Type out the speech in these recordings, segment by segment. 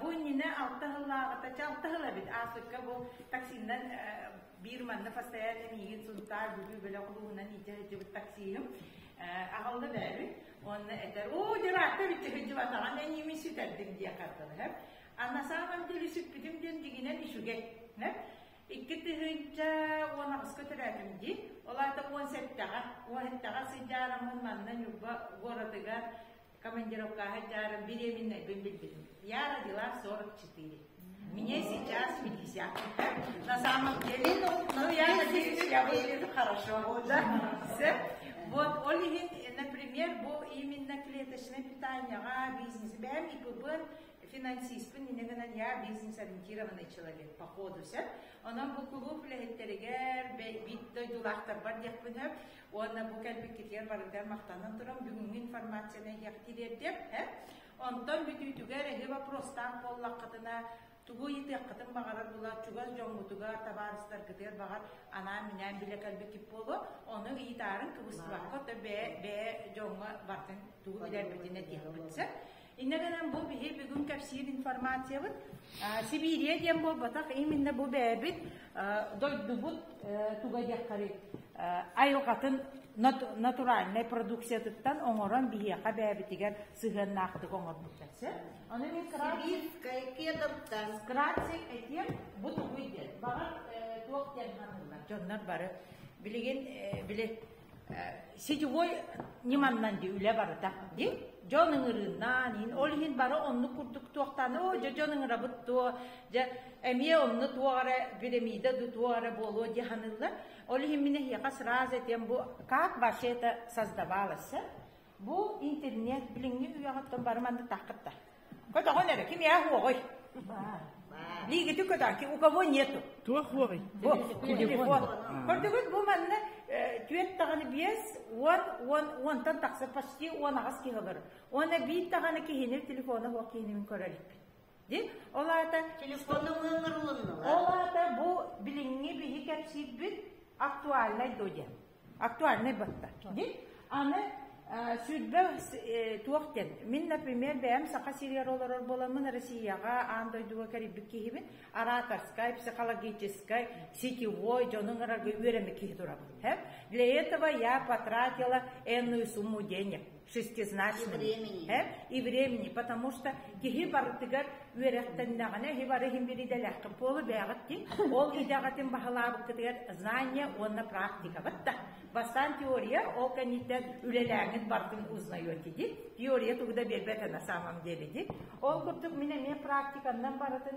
Бу иннинэ алта сыллааҕыта, алта сыл эбит аасыкка бу таксиннан биир манна постоянно миигин Сунтаар Бүлүү бөлөх улууһунан иитэ сылдьыбыт таксиһым аҕалла бээбит. Онно этэр, оо, дьараатта бүтэ сылдьыбат аҕам эн ими сүтэрдиҥ диэ хардалаһар. Анна саамам дьөлү сүппүтүм диэн дигинэн үчүгэй. Икки тыһыынча уон аҕыска төрөөтүм дии. Ол аата уон сэттэҕэ, уон сэттэҕэ сыдьаарам манна Ньурба городыгар командировкаҕа дьаарым беременнайбын билбитим. Я родила 44. Мне сейчас 50. На самом деле, ну, я надеюсь, я выгляжу хорошо. Да? Все. Вот, ол иһин, например, бу именно клеточное питанияга бизнес. Бэм ИПБ финансиспын инэ гынан я бизнес ориентированный человек походу сөп. Онон бу кулууп үлэһиттэригэр бит дойдулаахтарбар диэхпинеп Уонна бу кэлбиккитигэр барытыгар махтанан туран бүгүҥҥү информацияны иһиэхтиилэрдиэм ඈ. Онтон бүтүүтүгэр эһи вопростаах буоллаххытына тугу ыйытыаххытын баҕарар булар чугас дьоҥҥутугар табаарыстаргытыгар баҕар анаан-минээн билэ кэлбиккит буолуо ону ыйытаарын кыбыстыбакка бэйэ бэйэ дьоҥҥо бартын тугу билэрбитин этиэхпит сөп Иннэ гынан бу биһи бүгүн кэпсиир информациябыт Сибиирия диэн буолбатах именно бу бэйэбит дойдубут туга диэххэри айылҕатын натуральнай продукциятыттан оҥорон биһиэхэ бэйэбитигэр сыһыаннаахтык оҥорбуттар сэ аны мин кратсиккиятыттан кратсик этиэм бу тугуй диэн баҕар туох диэн ханаллар дьоннор бары билигин били сетевой ньыманнан ди үлэ барыта ди дьон ыҥырыыннаан иһин ол иһин бары оннук курдук туохтаана о дьэ дьон ыҥырабыт туо дьэ эмиэ онно туох эрэ пирамида ду туох эрэ буолуо дии саныыллар ол иһин мин эһиэхэ сразу этиэм бу как ваше это создавалось Бу интернет билиҥҥи үйэҕиттэн бары маннык тахкыттар. Көтөҕөн эрэ, ким yaa хуоҕой? Лигити көтөҕки, у кого нету? Туох хуоҕой? Бу, телефон. Көрдүгүт бу манна түөрт даҕаны биэс, уон, уон, уонтан тахса почти уон аҕыс киһи бар. Уонна биир даҕаны киһини телефона хуох киһинин көрөр эппит. Ди, ол аата телефонна мыыннар улуннулар. Ол аата бу билиҥҥи биһи кэпсиирбит актуальнай до диэн. актуальнай батта кини аны сүрбэ туох диэн мин например бэйэм саха сириэр олорор боламмын россияҕа аан дойдуга кэрийбит киһибин ораторскай психологическай сетевой дьонун арарга үөрэми киһи турабын для этого я потратила энную сумму денег шестизначному времени. Э? и времени, потому что киһи барытыгар үөрэхтэннэҕинэ иһи бары иһин биридэлэххин полу бэҕит ди ол идэҕэтин баһылаабыккытыгар знание уонна практикабыт да бастаан теория ол кэнниттэн үлэлээҥит баргын узнайоти ди теория тугу да биэрбэт на самом деле ди ол курдук мин эмиэ практикамнан барытын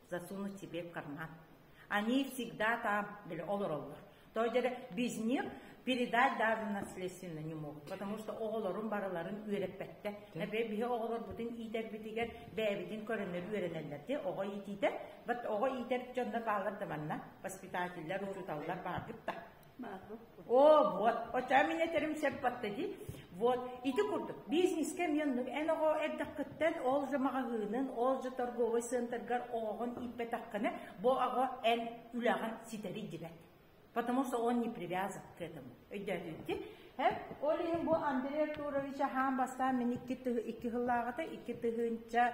засунуть себе в карман. Они всегда там были, олороллор. То есть без них передать даже наследственно не мог, потому что оҕолорун барыларын үөрэппэттэ. Нэбэ биһи оҕолор бутун иитэрбитигэр бэйэбитин көрөннөр үөрэнэллэрди оҕо иитиитэ, бат оҕо иитэр дьонно баалар да манна воспитательлар, учуталлар бааргытта. О, вот, оча меня терим сеппаттади. Вот, ити курдук, бизнескэ мионнук эн оҕо эрдэхкыттан ол же маҕаһыынын, ол же торговый центргар оҕоҕун ииппэтэххинэ, бу оҕо эн үлэҕин ситэри дибэт. Потому что он не привязан к этому. Өйдөөтүнти. Һэ, ол иһин бу Андрей Артурович аһаан бастаан мин икки тыһы икки хыллааҕыта икки тыһыынча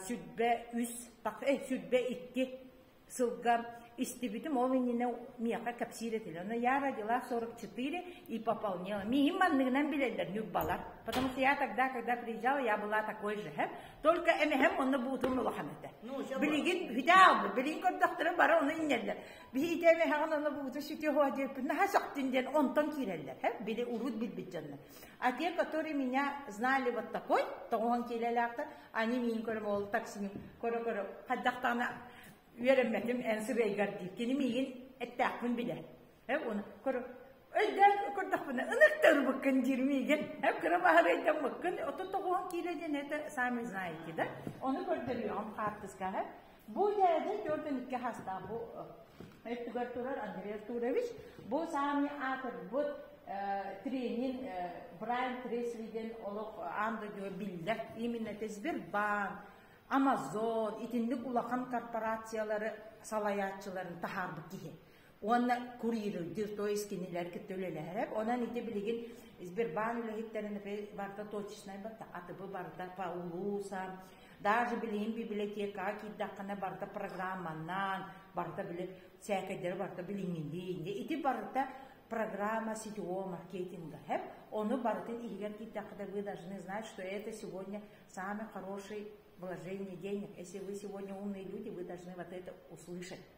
сүрбэ үс так э сүрбэ икки сылга истибитим ол иннинэ миэхэ кэпсиир этилэр но я родилась сорок четыре и пополнела миим манныгынан билэллэр ньурбалар потому что я тогда когда приезжала я была такой же хэм только эмэхэм онно буутун улахан этэ билигин хүтаалбыт билигин көрдөхтөрүн бара ону иннэллэр биһиите эмэхэҕин ону бууту сити хоа диэппин наха сөхтүн диэн онтон киирэллэр һэ били урут билбит дьоннор А те, которые меня знали вот такой, тоҕуһан киилэлээхтэр, они миин көрөм ол таксини көрө-көрө хаддахтаана үөрэммэтим эн сырыйгар дии кини миигин эттээхпин билэ э оны көрө өлдөк көрдөхпүнэ ынықтырбыккын диир миигин э кыра баһарайдаммыккын оту тоҕуһан киилэ диэн это сами знаете да оны көрдөрүөҕүм хаартыскаһа Бу дьээдэ төрдүн икки хастаах бу өттүгэр турар Андрей Артурович бу саамни аатырбыт тренин Брайан Трейсриген олох аан дойдуга биллэр именно тезбир баан Amazon итинник улахан корпорациялары салаятчыларын таһаарбыт киһи уонна курьердиир, то есть кинилэр кытта үлэлэһэрэ. Онон ити билигин Сбербаан үлэһиттэрин барда точечнай барда, атыбы барда, Паулуса, даже билигин библиотека киирдэххинэ барда программаннаан, барда били сээкэйдери барда билиҥҥилии. Ити барда программа сетевого маркетинга. Хэп ону барытын иһигэр киирдэххинэ вы должны знать, что это сегодня самый хороший вложение денег. Если вы сегодня умные люди, вы должны вот это услышать.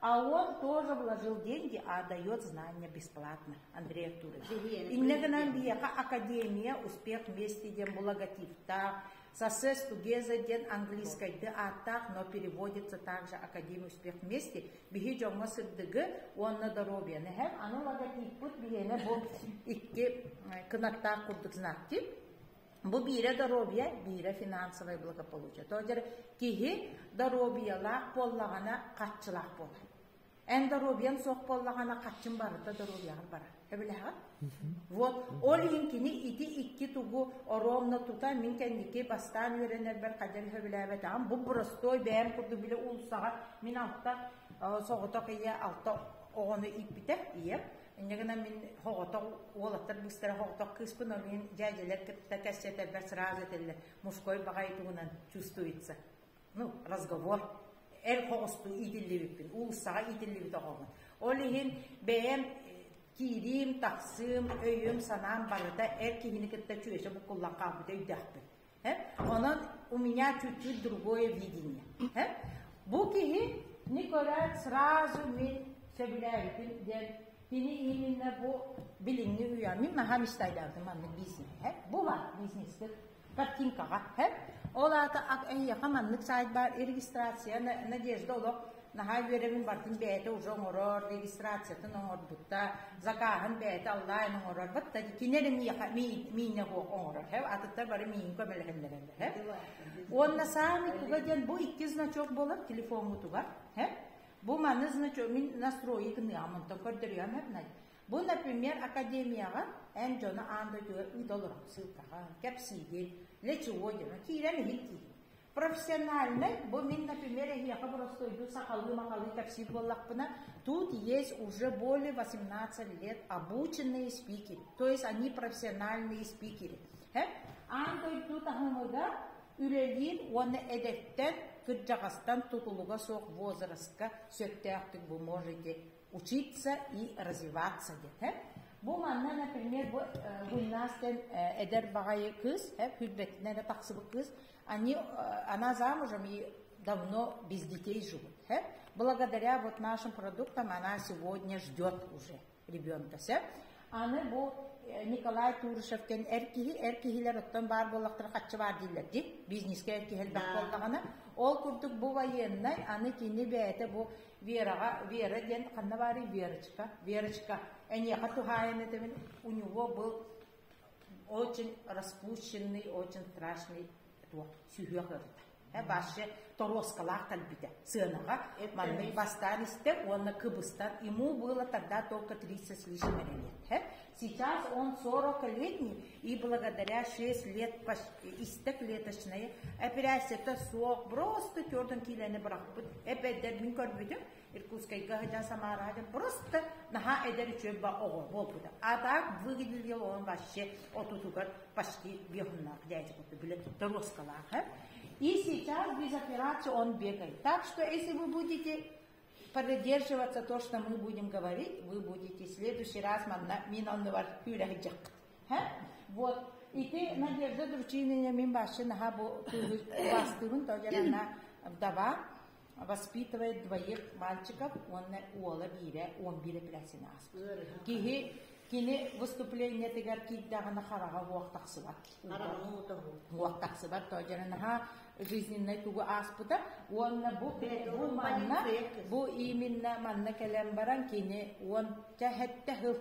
А он тоже вложил деньги, а дает знания бесплатно, Андрей Артурович. Иннэ гынан биһиэхэ академия успех вместе диэн логотиптаах Success Together диэн английскайды ааттаах, но переводится также Академия успех вместе. Биһи дьоҥҥо сырдыгы уонна доруобуйаны эһэм. Аны логотиппыт биһиэнэ бу икки кынаттаах курдук знакти. Бу биирэ доруобуйа, биирэ финансовай благополучие. Тоотер киһи доруобуйалаах буоллаҕына хаччылаах буолар. Эн доруобуйаң суох буоллаҕына хаччын барыта доруобуйаҕар барар. Эбилэҕэр? Вот ол иҥкини ити икки тугу оруомна тута мин кэнники бастаан үөрэнэрбэр хадьар сөбүлээбэтэҕим бу простой бэйэм курдук билэ уулуссаҕа мин алта соҕотох ийэ алта оҕону ииппитэ ийэм Инньэ гынан мин хоҕотох уолаттар быстара хоҕотох кыыспын ол мин дьээдьэлэр кытта кэссэтэрбэр сразу этэллэр мужской баҕай тугунан чувствуется. Ну, разговор эр хоҕустуу иитиллибиппин, уулуссаҕа иитиллибит оҕоҕун. Ол иһин бэйэм киириим, тахсыым, өйүм, санаам барыта эр киһини кытта чүөчэ буккуллан хаалбыт өйдөөхпүн. Онон у меня чуть-чуть другое видение. Бу киһи не көрөн сразу мен сөбүлээбитим диэн кини именно бу билиҥҥи үйэ мин наһаа мечтайдаатым маннык бизнеһэ бу бар бизнеспит картинкаҕа ол аата эйиэхэ маннык сайт баар регистрация надежда олох наһаа үөрэбин бардым бэйэтэ уже оҥорор регистрациятын оҥорбутта закааһын бэйэтэ аллаан оҥорор батта кини эрэ миэхэ миинэ оҥорор һэ атыттар бары миин көмөлөһөллөрөллөр һэ уонна саамай туга диэн бу икки значок болар телефоҥҥутугар һэ бу маны значок мин настройи гыныам онтон көрдөрүөм һэбнай Бу, например, академияҕа эн дьону аан дойдуга ыыталар ссылкаҕа, кэпсиигин, лечуо диэн, киирэн иһин киирин. Профессиональнай, бу мин, например, эһиэхэ боростуойдуу сахалыы-махалыы кэпсиир буоллахпына, тут есть уже более 18 лет обученные спикеры, то есть они профессиональные спикеры. Аан дойду таһымыгар үлэлиир уонна эдэттэн, кырдьаҕастан тутулуга суох возрастка сөптөөхтүк бу можете учиться и развиваться диэтэ. Бу манна, например, бу гимнаст эдэр баҕайы кыыс, күрбэтинэ да тахсыбыт кыыс, они, она замужем и давно без детей живут. Благодаря вот нашим продуктам она сегодня ждет уже ребенка. Аны бу Николай Турышевтен эр киһи, эр киһилэр оттон баар буоллахтара хаччы баар дииллэр ди, бизнеске эр киһи элбэх буоллаҕына, ол курдук бу военнай, аны кини бэйэтэ бу Вераҕа, Вера диэн ханна баарый? Верочка. Верочка, эниэхэ туһаайан этэбин, у него был очень распущенный, очень страшный туох сүһүөх ырыта. Э, башы торуоскалаах талбита. Сыанаға манный бастаан истеп, уонна кыбыстар. Ему было тогда только 30 с лишним лет. Сейчас он 40-летний и благодаря 6 лет истэклеточнай эпэрээсситэ суох просто тёрдун киилэни бырахпыт эпэддэр мин көрбүтүм Иркутскайга хажан самара хажан просто наха эдэр үчөбба оҕо буолбута а так выглядел он вообще отутугар почти бехуннах дядя билет торуоскалаах и сейчас без операции он бегает так что если вы будете Поддерживаться то, что мы будем говорить, вы будете в следующий раз манна мин оннугар күүлэһиджек. Вот. Ити Надежда Дручинина мин башчы наха бу бастыгын тояранна вдова воспитывает двоих мальчиков, он уола биирэ, он биирэ плесин ааспыт. Киһи кини выступлениетыгар киирдэҕинэ хараҕа уох тахсыбат. Хараҕа уох тахсыбат, тоодьара наха жизненнай тугу ааспыта уонна бу бу манна бу именно манна кэлэн баран кини уон сэттэ сыл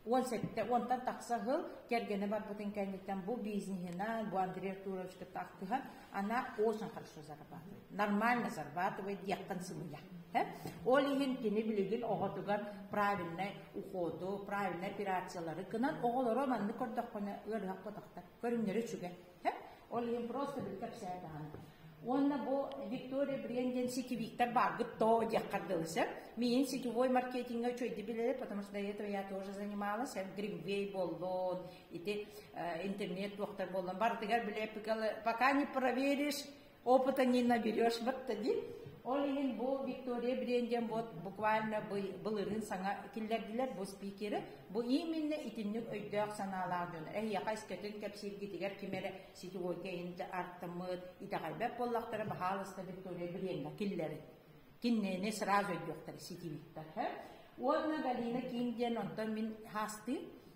уон сэттэ уонтан тахса сыл кэргэнэ барбытын кэнниттэн бу бизнеһинэн бу Андрей Артуровичка таахтыһан она очень хорошо зарабатывает нормально зарабатывает диэххин сымыйа ол иһин кини билигин оҕотугар правильнай уходу правильнай операциялары кынан оҕолоро маннык көрдөххүнэ ыарыһах көтөхтөр көрүҥнэрэ үчүгэй Ол иһин просто бүк кэпсээтэҕин. Уонна бу Виктория Брен диэн ситирииктэр бааргыт то диэххэр дылы сөп. Миин сетевой маркетинга үчүйдэ билэрэ, потому что до этого я тоже занималась, Гриввей боллон, ити интернет-туохтар боллон, барытыгар билэ пока не проверишь, опыта не наберешь вот диэн ол иһин бу виктория брен диэн вот буквально былырын саҥа киллэрдилэр бу спикеры бу именно итинник өйдөөх санаалаах дьон эһиэхэ искэтин кэпсииргитигэр ким эрэ сетевойка инде артыммыт итэҕэлбэт буоллахтара баһаалыста виктория бренга киллэрин киннэни сразу өйдүөхтэр сетивиттар уонна галина ким диэн онтон мин хаастыым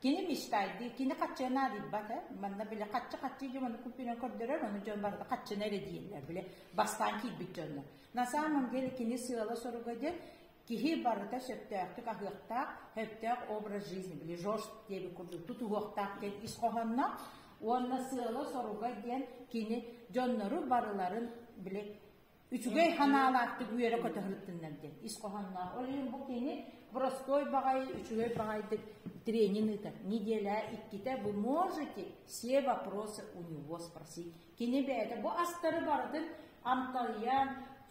Киһи мечтайдыы, кини хаччыга наадыйбат э. Манна били хаччы-хаччы дьон куппунан көрдөрөр, оны дьон барыта хаччыны эрэ дииллэр, били бастаан киирбит дьонно. На самом деле кини сыала-соруга диэн киһи барыта сөптөөхтүк аһыахтаах, сөптөөх образ жизни, били ЖОЖ диэбит курдук тутуһуохтаах диэн ис хоһоонноох уонна сыала-соруга диэн кини дьоннору барыларын били үчүгэй ханаалаахтык үөрэ көтөһүрүттүннэр диэн ис хоһоонноох. Ол иһин бу кини простой баҕай, үчүгэй баҕайдык тренин ыытар. Неделя иккитэ вы можете все вопросы у него спросить. Кини бэйэтэ бу астары барытын амталыйан,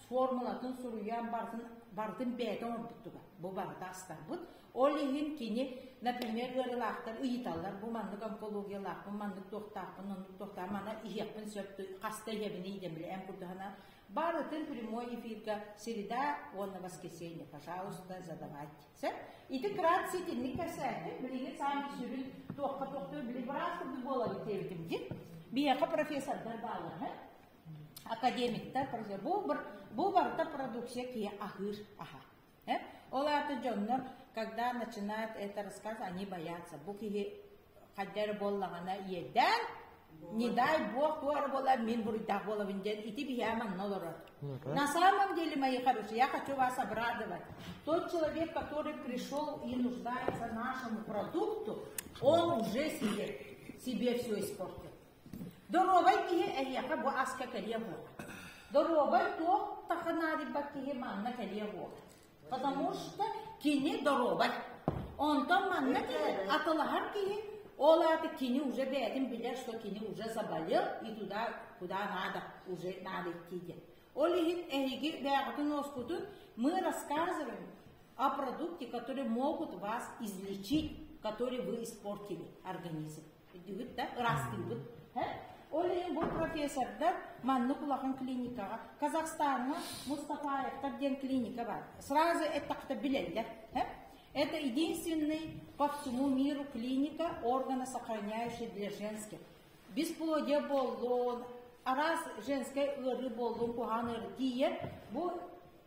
формулатын суруйан бартын бартын бэйэтэ оҥорбуттуга. Бу барыта астарбыт. Ол иһин кини, например, ыарыылаахтар ыйыталлар, бу маннык онкологиялаахпын, маннык туохтаахпын, оннук туохтаах, мана иһиэхпин сөп, хаста иһэбиний идem били эн курдуһана. Барытын прямой эфиргэ среда уонна воскресенье, пожалуйста, задавать. Сэр, ити крат ситинник кэрсээттин, билигин саан түсүрүн туохха туохта били браас курдук буола битебитим дин. Биэхэ профессордар бааллар, академиктар, бу, бу барыта продукция кие ахыр аха. Э? Ол аата дьоннор, когда начинают это рассказывать, они боятся. Бу киһи хайда эрэ буоллаҕына иэдээн, не дай бог бу эрэ буолар мин буруйдаах буолабын диэн ити биһээ манна олорор. На самом деле, мои хорошие, я хочу вас обрадовать. Тот человек, который пришел и нуждается нашему продукту, он уже себе, себе все испортил. Доруобай киһи эһиэхэ бу аска кэлиэ буолар. Доруобай туох таха наадыйбат киһи манна кэлиэ буолар. Потому что кини доруобай. Онтон манна киһи атылаһар киһи, ол ааты кини уже бэйэтин билэр, что кини уже заболел и туда, куда надо, уже надо идти диэн. Ол иһин эһиги бэйэҕитин уоскутун мы рассказываем о продукте, который могут вас излечить, который вы испортили организм. Үрдүгүт да ыраастыыбыт. Ол иһин бу профессордар маннык улахан клиникаҕа Казахстаҥҥа Мустафаевтар диэн клиника бар. Сразу это билэллэр. Это единственный по всему миру клиника органа, сохраняющий для женских. Бесплодие боллун, араас женскэй ыарыы боллун куһаан эргийэ бу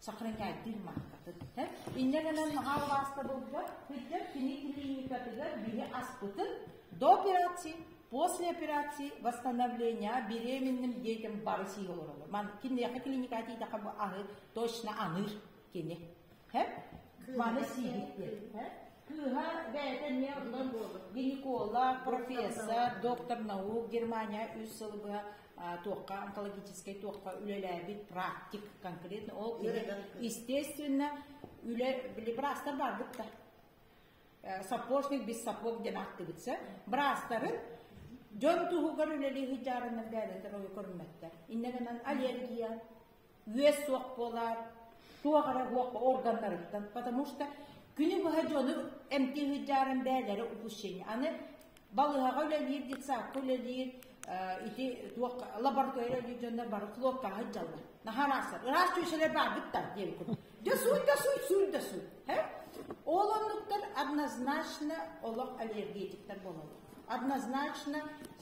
сохранятель махтатыт. Иннэ гынан наҕаа убааста булгар, күттэр кини клиникатыгар бири аспытын до операции, после операции восстановления беременным детям бары сиһи олоролор. Ман киндиэхэ клиника атиитаха бу аны точно аныр кини. Маны сиһиттин. Кыыһа бэйэтэ эмиэ оннон гинеколог, профессор, доктор наук Германия үс сыл быһа туохха онкологическай туохха үлэлээбит практик конкретно ол кини естественно үлэ браастар барбыт да сапожник без сапог диэн актыбытса браастарын дьон туһугар үлэлии сыдьаарынан дээнэтэр ойу көрүммэттэр иннэ гынан аллергия үөс суох буолар, туох эрэ уох органнарыттан, потому что күнү быһа дьону эмти ыһыддааран бээлэрэ упущение. Аны балыһаҕа үлэлиир, детсадка үлэлиир, ити туох лаборатория үлэлиир дьоннор бары хлопкаҕа ыддьаллар. Наһараасар. Ыраас түөсэлэр баарбыттар диэн кун. Да суй да суй суй да суй. Ол оннуктар однозначно олох аллергетиктар бололлор. Однозначно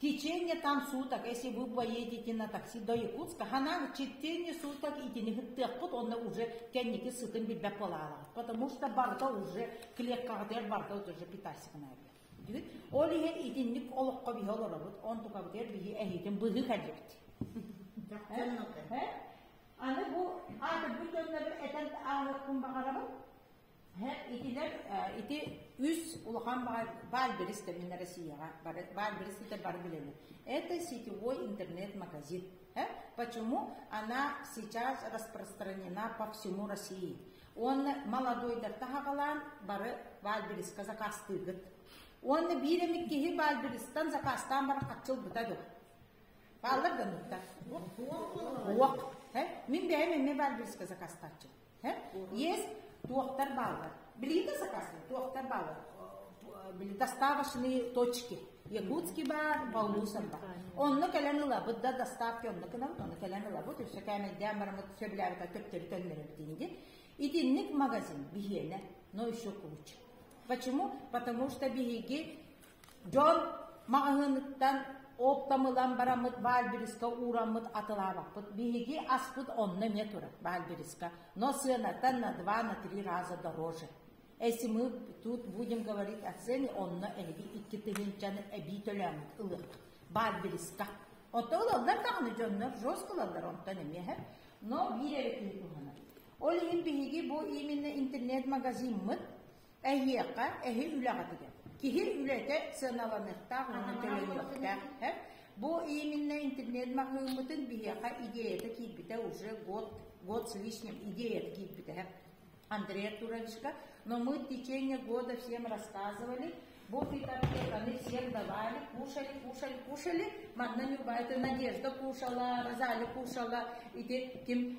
Течение там суток, если вы поедете на такси до Якутска, хана четыре суток итини хыттыахпыт онно уже кэнники сытын билбэт болаалаҕыт, потому что барыта уже клеткаҕытыгар барыта уже питассигына диир. Ол иһэ итинник олоххо биһи олоробут, он тукабытыгар биһи эһиитин быһыы кэлбит. Аны бу аты бүтүннэри этэн аалыккын баҕарабын. Итилэр ити үс улахан баальберис тэбиннэ Россияҕа. Баальберис ити бары билэни. Это сетевой интернет-магазин. Почему она сейчас распространена по всему России? Уонна молодойдар таһаҕалаан бары баальбериска закастыыгыт. Уонна биир эмит киһи баальберистан закастаан баран хаччылбыта дыр. Бааллар да нукта. Уох. Мин бэйэм эмне баальбериска закастааччым. Есть туохтар бааллар? Билиите заказывать? Туохтар бааллар? доставочные точки. Якутский бар, Балбусов бар. Онно кэлэн ылабыт да доставки онно гынан, онно кэлэн ылабыт, үсө кээмэйдээн барамыт сөбүлээбэт төптөрү төннөрүбүтиниги. Итинник магазин биһиэнэ, но еще куч. Почему? Потому что биһиги Дьон маҕаһыыныттан оптом бараммыт баальбириска уураммыт атылаабаппыт. Биһиги аспыт онно эмиэ турар баальбириска, но сыанаттан на два, на три раза дороже. Если мы тут будем говорить о цене, онно эһиги икки тыһыынчаны эбии төлөөмүт ылыах баальбириска. Оттон ылаллар даҕаны дьоннор, жестко ылаллар онтон эмиэ. Но биир эрэ күн туһанар. Ол иһин биһиги бу именно интернет-магазиммыт Эһиэхэ эһи үлэҕитигэр киһи үлэтэ сыаналаныахтаах уонна төлөнүөхтээх этэ. Бу именно интернет маһыыммытын биһиэхэ идеята киирбитэ уже год, год с лишним идеята киирбитэ. Андрей Артуровичка, но мы в течение года всем рассказывали, вот и конфетаны всем давали, кушали, кушали, кушали, манна любая надежда кушала, роза кушала, ити ким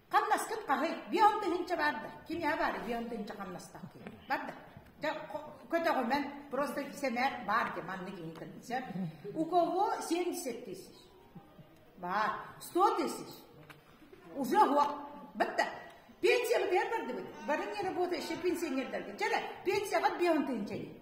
Хамнаскыт хаһый? Бион тыһынча бар да. Кимия бар бион тыһынча хамнастах ким? Бар да. Көтөҕүмэн просто сэмээр бар де манны кини концерт. У кого 70 тысяч? Бар. 100 тысяч. Уже вот. Бітті. Пенсияны беріп барды бары не работа еще пенсионердерге. Чәрі пенсияға бион тыһынча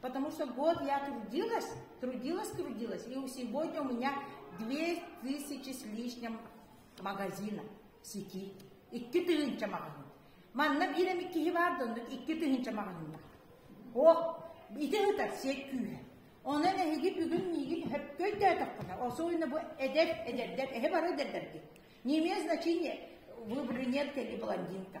потому что год я трудилась, трудилась, трудилась, и сегодня у меня две тысячи с лишним магазина сети, икки тыһыынча магазин. Манна биир эмит киһи бар да, икки тыһыынча магазина. О, ити ытар сек күүһэ. Онон эһиги бүгүн миигин хөпкө өйдөөтөххүнэ, особенно бу эдэр, эдэрдэр, эһи бары эдэрдэрги. Не имеет значения, вы брюнетка или блондинка.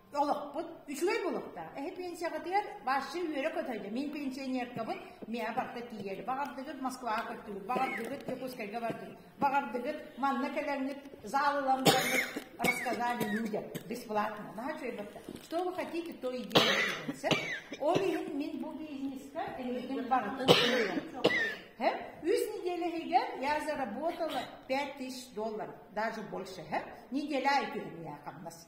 олохпут үчүгэй буолуохтаах. Эһи пенсияҕытыгар башы үөрэ көтөйдө. Мин пенсионеркабын миэ барта тиийэр. Баҕардыгыт Москваҕа көттүгүт, баҕардыгыт Дьокуускайга бардыгыт, баҕардыгыт манна кэлэҥҥит заалылан барыгыт рассказали людям бесплатно. Да, что это? Что вы хотите, то и делайте. Ол иһин мин бу бизнеска эһигин барытын Э? Үс неделя иһигэр я заработала 5000 долларов, даже больше. Э? Неделя и я хамнас.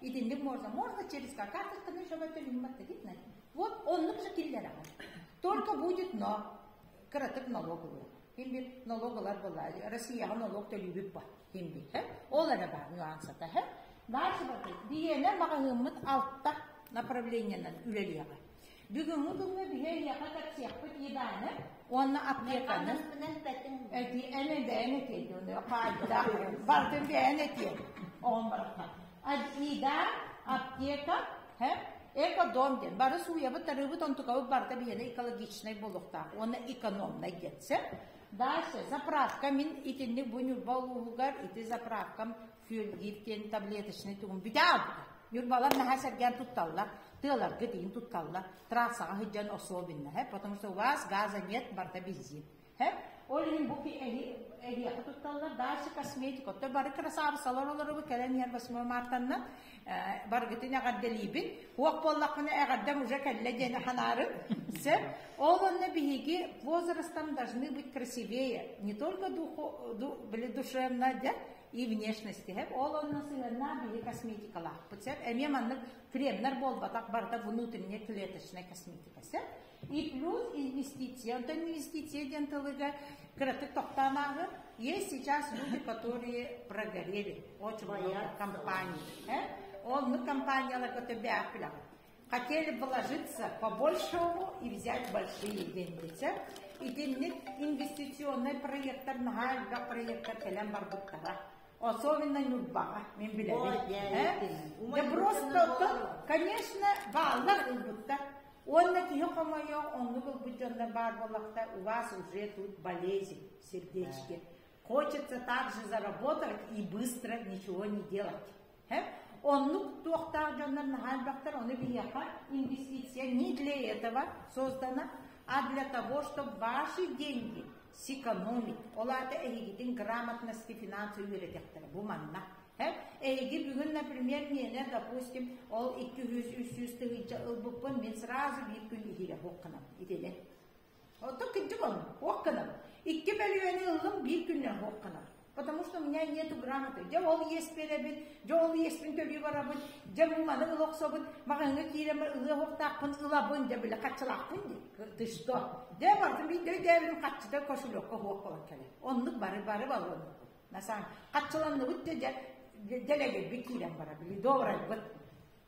Итинник можно. Можно через какашечную, чтобы это видно. Вот он уже киллера. Только будет но кыратык налоговый. Химби налоговлар была. Россияга налог төлүүбүт ба. Химби. Ол эрэ бар нюансата. Барсыбаты. Биенер магазыммыт алта направлениенан үлелиэгэ. Бүгүҥҥү күҥҥэ биһи эйиэхэ кэпсиэхпит Иваны уонна аптеканы эти эми бэйэн этиэйдиэни хаайда бартын бэйэн этиэ оҕон барахха Ида аптека һэ экодом диэн бары сууйабыт тарыыбыт онтукабыт барыта биһиэнэ экологичнай буолуохтаах уонна экономнай диэтсэ дальше заправка мин итинник бу ньурба улууһугар ити заправкам күөлгиир диэн таблеточный тугун бүтэҕэ Нюрбалар наһаа сэргээн тутталлар, тыаларга тиин тутталлар, трассаҕа сылдьан особенно, һэ, потому что у вас газа нет, барда бензин. Һэ, ол иһин бу эһиэхэ тутталлар, дальше косметика, отто бары красавысалар олорубу кэлэн иһэр восьмой мартаннан, баргытын эҕэрдэлиибин, уох буоллаххына эҕэрдэм уже кэллэ диэн ханаарын, сэ, ол онно биһиги возрастом должны быть красивее, не только духу, душевно, да, и внешности һэп ол онно сыһыаннаах биһи косметикалаахпыт сеп эмиэ маннык кремнар буолбатах барыта внутренняя клеточная косметика сеп и плюс инвестиция онтон инвестиция диэн тылыга кыратык тохтаан ааһыр есть сейчас люди которые прогорели очень много компаний э? ол мы компанияларга төбөөх Хотели вложиться по-большому и взять большие деньги. Чэ, итинник инвестиционнай проектар наһаа элбэх проектар кэлэн барбыттара. Особенно Ньурбаҕа, мин билэбин. Да просто оттон, конечно, бааллар ылбыттар. Уонна киһи хомойо, оннук ылбыт дьоннор баар буоллахтар, у вас уже тут болезнь сердечки. Хочется также заработать и быстро ничего не делать. Оннук туохтаах дьоннор наһаа элбэхтэр, ону биһиэхэ инвестиция не для этого создана, а для того, чтобы ваши деньги сэкономить. Ол аата эһигитин грамотности финансовый үөрэтиэхтэрэ бу манна. Эһиги бүгүн, например, миэнэ, допустим, ол 200-300 тыһыынча ылбыппын, мин сразу bir gün ihire букканам. Итини Оттон кырдьыком, ох гынам. Икки бөлүөні ыллым биир күннээх ох гынар. Потому что у меня нету грамоты. Дьэ ол иэс биэрэбин, дьэ ол иэспин төлүү барабын, дьэ маны ыла охсобун, маҕаһыҥҥа киирэн ылыа охтаахпын ылабын, дьэ били хаччылаахпын дии. Ты что? Дьэ бардым биир дөйдөөбүм хаччыта кошелёкка ох болон кэлэн. Оннук бары бары балыам. На самом хаччыланныбыт дьэ дьэ дьэлэгирбит киирэн бара били добрайбыт.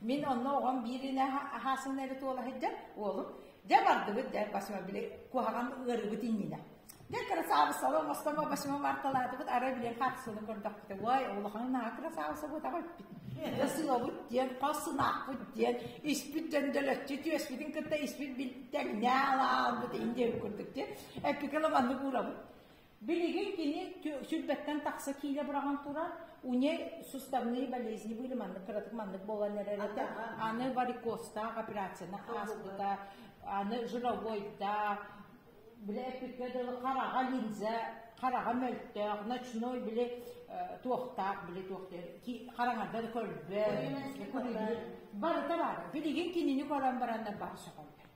Мин онно оҕом биир илэ аһаасына эбит уола сылдьар уолум дьэ бардыбыт дьэ басыма били куһаҕан ыарыбыт иннинэ дьэ кырасаабыссаба мостомо басыма барталаатыбыт арай билиэн хаатысылын көрдөхпүтэ уай улаханын аһа кырасаабыссабытаҕа эппит сыабыт диэн хос сынаахпыт диэн испит дьөндөлөччү түөспүтүн кытта испит тэҥнээ алаалбыт индиэбит курдук диэн эппикэ маннык уурабыт Билигин кини сүүрбэттэн тахса киилэ быраҕан турар, уне суставные болезни были маннык кыратык маннык буолан эрэр этэ. Аны варикозтаах операциянах ааспыта, аны жировойдаах, бile эппиккэ дылы хараҕа линзэ, хараҕа мөлтөөх, ночной били туохтаах били туохтаах хараҥарда да көрбө, барыта бар. Билигин кинини көрөн бараннар бар сөҕөллөр.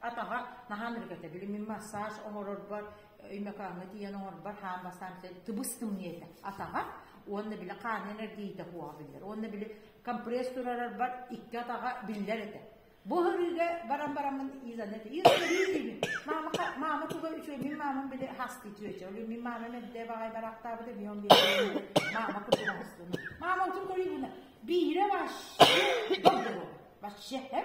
Атаҕа наһаа ныргата, били мин массаж оҥорорбор, өймөкөөҥҥө тиийэн оҥорбор хаан бастаан тыбыс-тымныы этэ. Атаҕа уонна били хаанынан эргийиитэ куоҕа биллэр. Уонна били компресс турарарбар икки атаҕа биллэр этэ. Бу ырыыга баран бараммын иизаны иизиибин. Мама мама туга үчүгэй мин мамам били хастыы түөчө. Олю мин мама мэдде баҕай барахтаабыта мион били мама кутуга хастын. Мама утун көрүүгүнэ биире ваш вообще вообще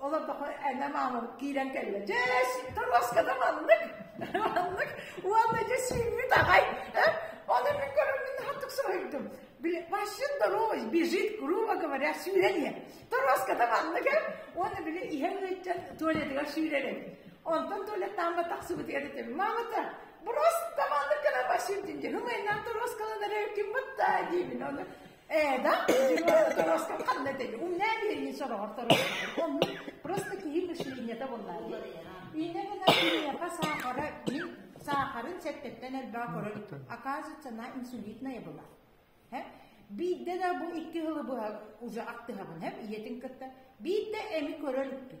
олордохо эне маамам киирэн кэллэ дьэ торуоската маннык маннык уонна дьэ сииммит аҕай он и көрөммүн хатык соһуйдум вообще здоровый бежит грубо говоря сүүрэлиэ торуоската маннык уонна били иһэн ыйтан туалетыгар сүүрэрим онтон туалеттаан тахсыбытыгар этим мамата просто маннык гына басим диэн хымайнаан торуоскаланара ким бутта диибин оны Ээ, да, оторостон ханна тели. Умнаа биэрин сороҕор торостон. Оммут просто киһи мышлениета боллаали. Инэ гына киһиэхэ саахара мин саахарын сэттэттэн элбэҕи көрөр оказывается инсулитная была. Биирдэ да бу икки хылы быһа уже аттыһабын хэм ийэтин кытта биирдэ эми көрөр үппүн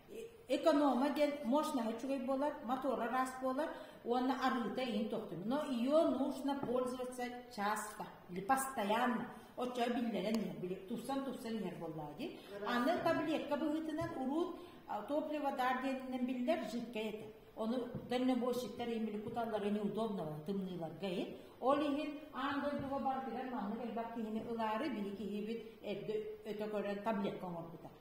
эконома диэн мощность үчүгэй буолар мотора ыраас буолар уонна арыыта иһин тохтуур но ее нужно пользоваться часто или постоянно оччо биллэрэн иһэр тупсан тупсан иһэр буоллаа дии аны таблетка быһыытынан урут топлива дар диэнинэн биллэр жидкэй этэ ону дальнобойщиктар имели куталлара неудобного тымныыларга ин ол иһин аан дойдуга барытыгар маннык элбэх киһини ылаары биһи киһибит эрдэ өтө көрөн таблетка оҥорбута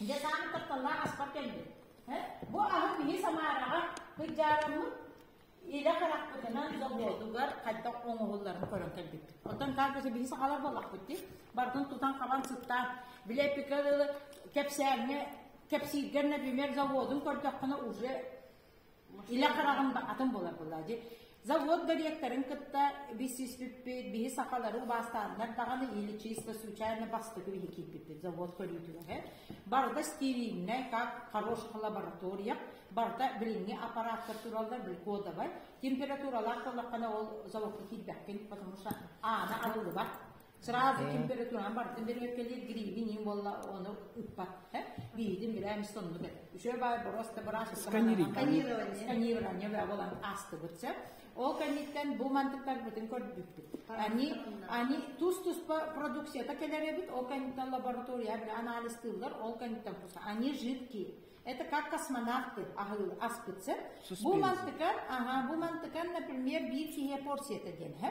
Дьэ саамай тапталлаах аспар кэлбит. Бу аһы киһи Самараҕа кыдьаараммыт илэ харахпытынан заболдугар хайдах оҥоһулларын көрөн кэлбиппит. Оттон каакыса биһи сахалар буоллахпыт дии. Бартын тутан хабан сыттаан, билэ эппикэ кэпсээҥҥэ кэпсииргэр например заводун көрдөххүнэ уже Илэ хараҕым атын буолар буолла дьи завод директорын кытта билсиспиппит биһи сахалары убаастааннар даҕаны или чисто случайно бастакы биһи кииппиппит завод көрүүтүнэһэ барыта стерильнай как хорошая лаборатория барыта билиҥҥи аппараттар тураллар били кодовай температуралаах буоллаххына ол заводка киирбэккин потому что аана алылыбат Сразу температураҕа бардым бүрүөккэлиир грибин иин буолла оны ыппат. Биитин билээ эмис соннук эт. Үсөө баар бороста быраас сканирование сканирование баа болан аастыбыт сэ. Ол кэнниттэн бу мантыктарбытын көрдүппүт. Они они тус-туспа продукцията келеребит, ол кэнниттэн лаборатория бир анализтыыллар, ол кэнниттэн вкусно. Они жидкие. Это как космонавты аспытсы. Бу мантыкан, ага, бу мантыкан, например, биир киһи порцията диэн, хэ?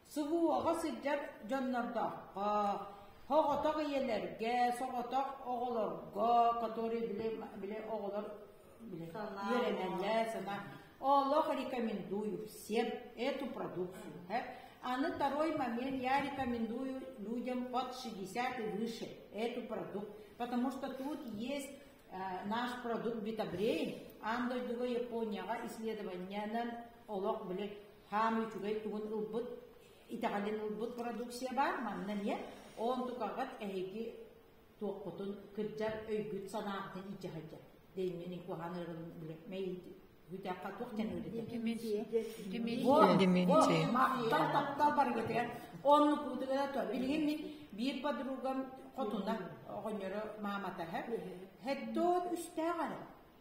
Субуоҕа сылдьар дьоннордооххо, соҕотох ийэлэргэ, соҕотох оҕолорго, которые били, били оҕолор били, үөрэнэллэр, сана олох рекомендую всем эту продукцию. Аны второй момент я рекомендую людям под 60 и выше эту продукт, потому что тут есть наш продукт Битабрейн, андой дуга Японияга исследованиянан олох билет хаамыы үчүгэй тугун ылбыт итэҕэлин ылбыт продукция баар манна эмиэ онтукаҕыт эһиги туоххутун кырдьар өйгүт санааҕытын иджаһадьа деймини куһаныырын билемей бүтэххэ туох дэн Оны кутыгына то билгинник биир подругам хотуна оҕонньоро мааматаһа хэттоот үстээҕэ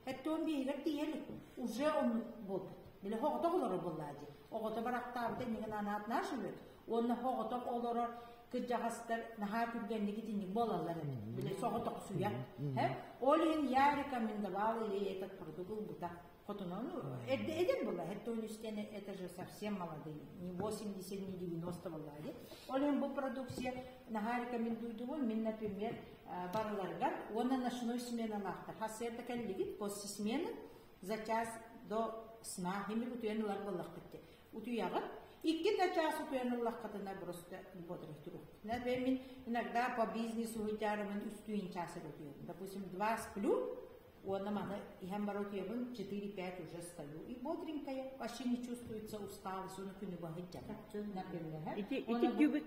Этте он биһигэр тиийэн уже он буут. Биле хоҕотох олорор буллаади. Оҕото барахтаабыта иннигин анаат наш үбөт. Онна хоҕотох олорор кырдьаҕастар наһаа түргэнник итинник болаллар эбит. Били соҕотох суя. Һэ, ол иһин я рекомендовал ей этот продукт ылбыта. Хотунон эден было, это он это же совсем молодые, не 80, не 90 было. Олен бу продукция наха рекомендуйдум, мен, например, барыларыгар уонна ночной сменалаахтар хас эрдэ кэллигит после смены за час до сна химир утуйан ылар боллахтыкки утуяҕыт икки да час утуйан ыллаххытына просто ботрых турук например иногда по бизнесу утярымын үстүүн час утуйам допустим два сплю уонна маны иһэн бара утуйабын четыре пять уже стою и бодренькая вообще не чувствуется усталость onu күнү баһыйдьата например ити ити түбүк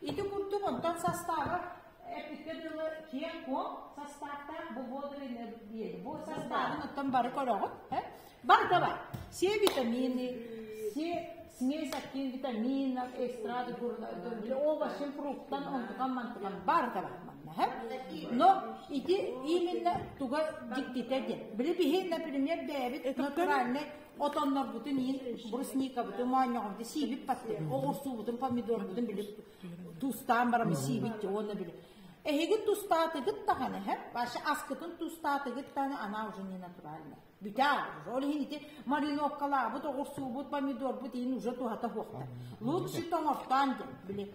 Ити курдук онтон састаабар эппиккэ дылы киэҥ-куоҥ састааптаах бу буолу бу састаабын оттон бары көрөҕүт бар да бар все витамины все смесь актин витаминов экстраты овощын фруктан онтукан мантыкан бар да бар манна но ити именно туга дьиктитэ диэн били биһи например бэйэбит натуральный отоннорбутун иһин брусникабытын моонньоҕобутун сиибит паттык оҕурсуубутун помидорбутун били тустаан барамы сиибит уонна били эһиги тустаатыгыт даҕаны хэп вообще аскытын тустаатыгыт даҕаны она уже не натуральная бүтаа уже ол иһин ити мариноккалаабыт оҕурсуубут помидорбут иһин уже туһата хуохта лучше тоҥортаан диэн били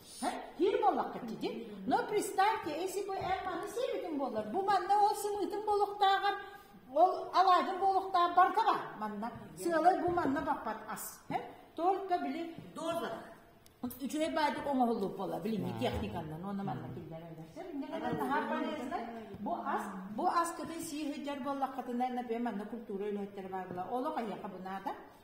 Киир буоллахха дии. Но представьте, если бы Эрманы сервитин болар, бу манна ол сымыытын болуктааҕар ол алаадын болуктаах баркаба манна сыалай бу манна баппат ас только били доза үчүгэй баадык оҥоһуллуб буола билиҥҥи техниканнан уонна манна киллэрэ өлөрсөр иннигэр наһаа полезно бу ас бу ас кытын сии сылдьар буоллаххытына например манна культура үлэһиттэрэ баар була олох айаха бунаата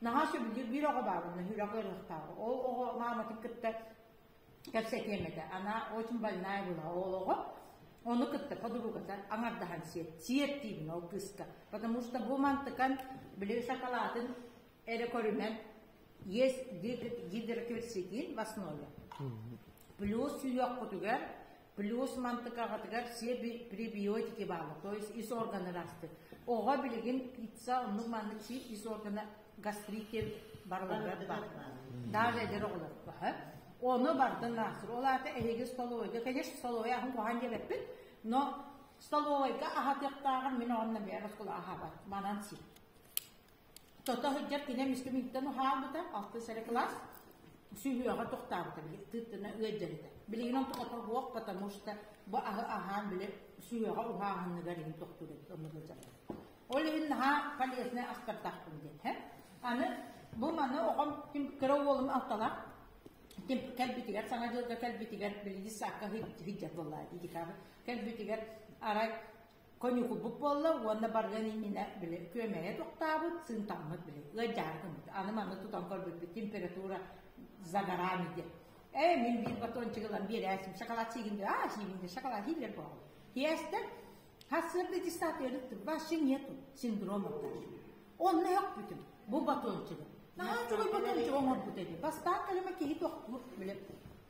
наһаа сөбүлүүр биир оҕо баабынна үрэх ыарыахтааҕа ол оҕо мааматын кытта кэпсэтиэм этэ она очень больная была ол оҕо ону кытта подругата аҥардаһан сиэт сиэттиибин ол кыыска потому что бу мантыкан били шоколадын эрэ көрүмэн есть гидрокверцитин в основе плюс сүүйүөххутугар Плюс мантыкаҕытыгар пребиотики баала, то есть ис органы ылаастык. Оҕо билигин пицца оннук маннык сир ис органа гастрите барыларыгар бар. Даже эдер оҕолор бар. Оны бардын наасыр. Ол аата эһиги столовойга, конечно, столовой ахын куһан делеппит, но столовойга ахатыктааҕар мин онна бэйэр оскола ахабат, манан сир. Тото сылдьар кинем истибиттэн уһаабыта, алтыс эрэ кылаас, сүһүөҕэ тохтаабыта, тыыттына ыалдьарыта. Билигин онтуката суох, потому что бу аһы аһаан били сүһүөҕэ уһааһынныгар иһин тохтуур эбит онно сылдьарбыт. Ол иһин наһаа полезный ахтардахпын диэн. Аны бу маны оҕом ким кыра уолум алталаах ким кэлбитигэр саҥа дьылга кэлбитигэр билиги саакка сыддьар буоллаа дии декабрь кэлбитигэр арай Коньукулбут буолла уонна барыан иннинэ били күөмэйэ тохтообут, сыынтаммыт били ыалдьаары гыммыт. Аны маны тутан көрбүппүт температура загорами диэн. Ээ мин биир батончигылан биэрээсим шоколад сиигин диэ, аа сиигин диэ, шоколад сиилэр буолла. Тиэстэр хассыырды диссертиэрит тур, вообще нету синдроматтар. Онно өкпүтүм бу батончигы. Наһаа чугуй батончик оҥорбут edi. Бастаан кэлимэ киһи тохтуур били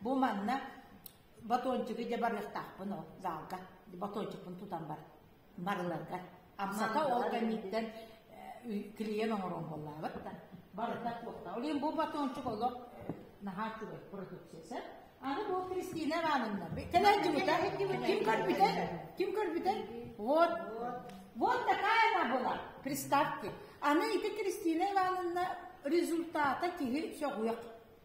Бу манна батончиги дьэ барыахтаахпын ол заалга. Батончикпын тутан бар барыларга. Амсата ол кэнниттэн клиент оҥорон буоллаабыт да барыта туохта. Олин бу батончик олох наһаа үчүгэй продукциясы. Аны бу Кристина Ивановна кэлэддибитэ ким көрбүтэ ким көрбүтэ вот вот такая она была приставки аны ити Кристина Ивановна результата киһи сөҕүөх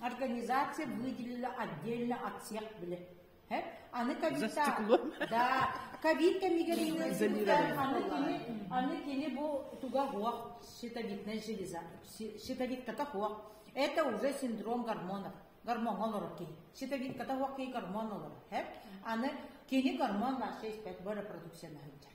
Организация выделила отдельно от всех билет. Аны ковида, да, ковид кэмигэр ыытыытыттан аны кини аны кини бу туга хуох щитовидная железа щитовидката хуох это уже синдром гормонов гормоҥҥа олорор киһи щитовидката хуох киһи гормон олорор аны кини гормон наша испэт бу репродукцияны сылдьар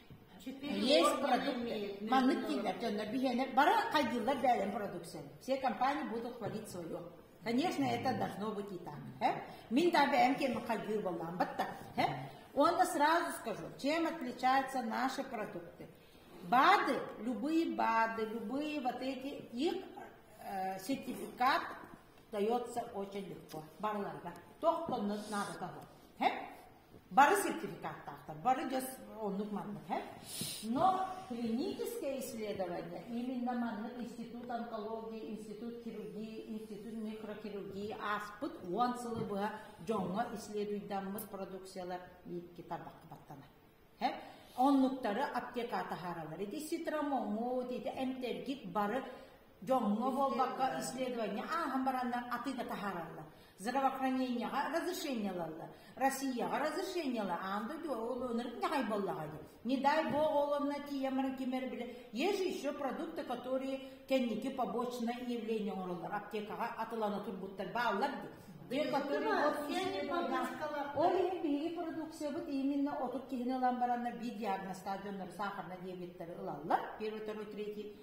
Есть продукты. Маннык дииллэр дьоннор биһиэнэр бары хайдыыллар бээлэн продукция. Все компании будут хвалить свое. Конечно, это должно быть и так. Э? Мин да бэйэм кем хайдыы боллаан батта. Э? Уонна сразу скажу, чем отличаются наши продукты. Бады, любые бады, любые вот эти, их э, сертификат дается очень легко. Барларга. Тох коннот надо того. Э? Бары сертификаттаахтар, бары дьэ оннук маннык һэ. Но клиническое исследование именно маннык институт онкологии, институт хирургии, институт микрохирургии ааспыт уон сылы быһа дьоҥҥо исследуйдаммыт продукциялар биикки тарбахта баттана. Һэ? Оннуктары аптека таһааралар. Ити ситромоҥҥут, ити эмтэргит бары Дьоҥҥо буолбакка, исследование ааһан бараннар атыыга таһаараллар. Здравоохранениеҕа разрешениелаллар. Россияҕа разрешениелар аан дойду оҕолонор ньаҕай буоллаҕа дии. Не дай бог оҕолонно тиийэммэр кимэр бile. Есть же еще продукты, которые кэнники побочное явление оҥороллор. Аптекаҕа атылана турбуттар бааллар дии. Ол иһин биһиги продукциябыт именно отут киһини ылан бараннар биир диагнозтаах дьоннор сахарна диабеттары ылаллар. Первый, второй, третий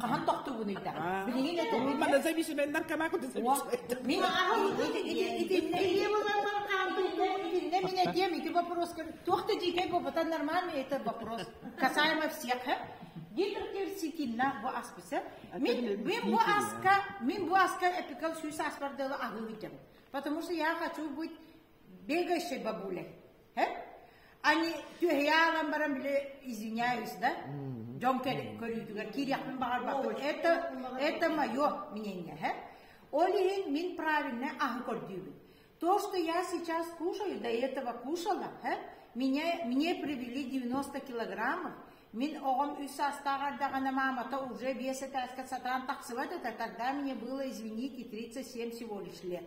Хаһан тохтуугун ыйдаҕа? Билигин это Манна зависименнар кама куда зависименнар. Мин аһым итиннэ илиэ буларбар хаантыйда итиннэ мен этием эти вопрос туохта дикай бопотан нормально это вопрос касаемо всех Гитлер сикинна бу аспыса. Мен мен бу аска мен бу аска эпикал сүй саспардалы аһы Потому что я хочу быть бегающей бабулей, э? Они түһэйаалан баран били извиняюсь, да? Дьон көрүүтүгэр киириэхпин баҕарбаппын. Это, это мое мнение, э? Ол иһин мин правильно аһы көрдүүбүн. То, что я сейчас кушаю, до этого кушала, э? Мне, мне привели 90 килограммов, Мин оҕом үс саастаах эрдэҕинэ маамата уже биэс этээскэ сатаан тахсыбат этэ, тогда мне было, извините, 37 всего лишь лет.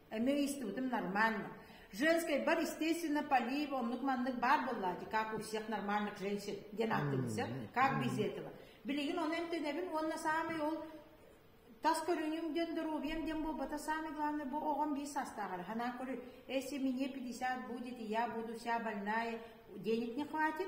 Эмиэ истибитим нормально. Женскэй бар, естественно, полив, оннук-маннык баар буоллаати, как у всех нормальных женщин диэн ааттыыбыт. Как без этого. Билигин ону эмтэнэбин уонна саамай ол тас көрүнүм диэн доруобуйам диэн буолбата самое главное бу оҕом биир саастааҕар ханаа көрү если мне 50 будет и я буду вся больная денег не хватит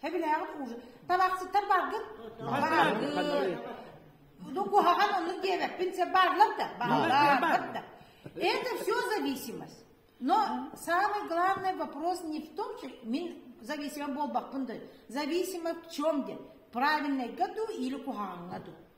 Хэбилээҕим уужу. Табахсыттар баргын. Баргын. Ну, куһаҕан ону диэбэппин, це барлар да, бааллар да. Это все зависимость. Но самый главный вопрос не в том, что мен зависимым болбақпын да, зависимым в чем где, в правильной году или куһаҕаҥҥа ду.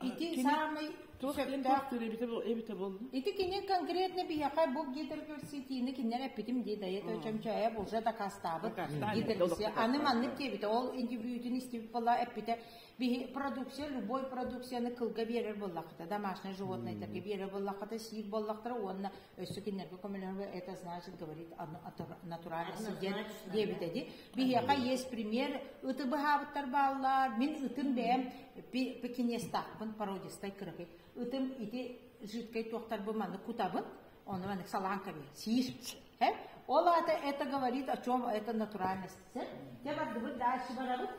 Ити саамай туох сөптөөх эбитэ эбитэ буолла? Ити кини конкретно биһиэхэ бук диэтеркэрситиини кинилэр эппитим дии дайыта чөмчөөйө булса дакаастаабыт диэтеркэрсии аны маннык диэбитэ ол индивидуутун истибит буола эппитэ биһи продукция любой продукцияны кылга биэрэр буоллахта домашнее животное терге биэрэр буоллахта сиир буоллахтара уонна өссө кинилэргэ көмөлөһөргө это значит говорит натуральный сиддет диэбитэ ди Биһиэхэ иэс премьер ыты быһаабыттар бааллар. Мин ытын бэйэм пекинестахпын, породистай кыракый. Ытым ити жидкай туохтарбы манны кутабын, оны маннык саланками сиишпчи. Ол ата это говорит о чем это натуральность. Дебардыбыт дальше барабыт.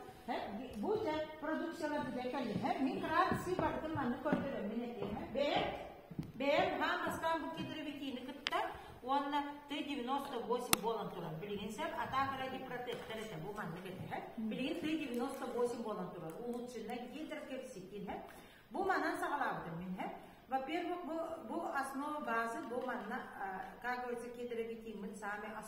Бу же продукциялар бу декали. Микрации бардым манны көрдөрөммүн этиһэ. Бэйэм Бэйэм хаан бастаан бу гидровитины кытта уонна Т-98 буолан турар. Билигин сөп атаак эрэ гипротектор этэ бу маннык этэ. Билигин Т-98 буолан турар. Улучшенная гидрокепситин һэ. Бу манан саҕалаабытым мин һэ. Во-первых, бу, бу основа базы, бу манна, как говорится, гидровитин мы сами основа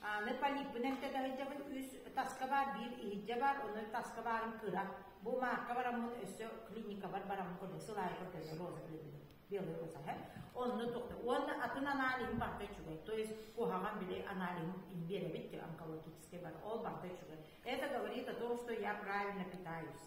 Аны полиппын эмтэ да сылдьабын, үс таска баар, биир иһирдьэ баар, ону таска баарын кыра. Бу маакка бараммын, өссө клиникабар бараммын көрдө сыл аайы көрдө розалыыбын. Белый Росаһа. Онно тоқты. Оны атын анализым барда чугай. То есть куһаҕан били анализым беребит онкологический бар. Ол барда чугай. Это говорит о том, что я правильно питаюсь.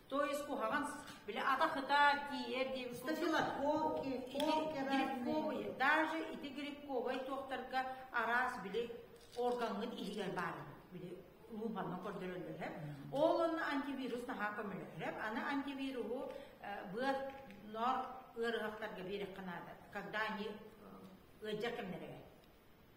То есть куһаҕан били ата-хыта тиийэр диэбит стафилококк, грибковый, даже ити грибковай туохтарга араас били органгын иһигэр баар били мууханнан көрдөрөллөр. Ол онно антивирус наһаа көмөлөһөр. Аны антивируһу быат нор ыарыһахтарга берех канада, когда они ыжар кэмнэрэ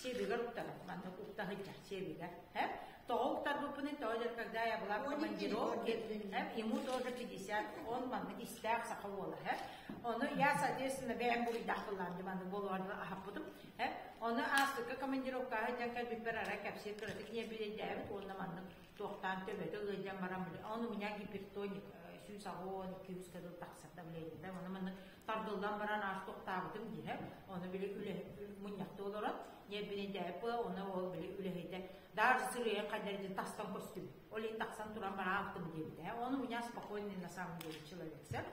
Сиэбигэр уктаһыт, маннык уктаһыйдах сиэбигэр. Һэ? Тоҕо уктарбыппын тоҕо дьэр, когда я была командировки, ему тоже 50-10 маннык истээх саха буола. Һэ? Ону я, соответственно, бэйэм буруйдах кыллаан маннык буолуорга аһаппытым. Һэ? Ону аастыкка командировкаҕа дьэн кэлбиппэр ара кэпсиир кыратык не билейдээбит уонна маннык туохтаан төбөтө ыалдьан баран ол у меня гипертоник сүүс аҕыон иккиуска дыл тахсата билэйдита маны маны тардыллан баран аас тохтаабытым диһэ оны били үлэ мунньахты олорон ньиэбинэйдээппы оны ол били үлэһийдэ daar сырыйа қадерди тастан көстүм ол тахсан туран бара аахтым диэбитэ оны у меня спокойный на самом деле человек сэр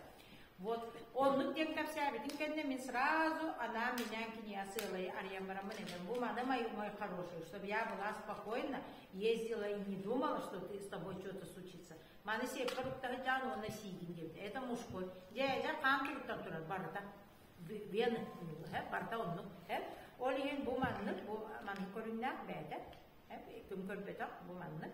Вот. Оннук диэн кэпсээбитин кэннэ мин сразу анаан минээн кинигэ сыалай арыйан бараммын этем. Бу маны мой, мой хороший, чтобы я была спокойна, ездила и не думала, что ты с тобой что-то случится. Маны сеп туруктары жан онна сиигин диэбит. Это мужской. Дьээдэ хаам туруктан турар барыта. Бен барта оннук. Ол иһин бу маннык, бу маннык көрүннээх бээтэ. Ким көрбөтөх бу маннык.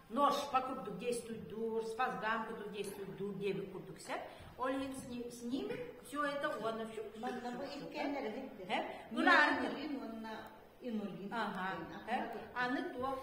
норшпа курдук действуйдуур, спасгам курдук действуйдуур диэбит курдук сөп. Ол иһин с ними все это уонна все. Манна бу иккэннэрин Булааннырин уонна инулин. Ага. Аны туох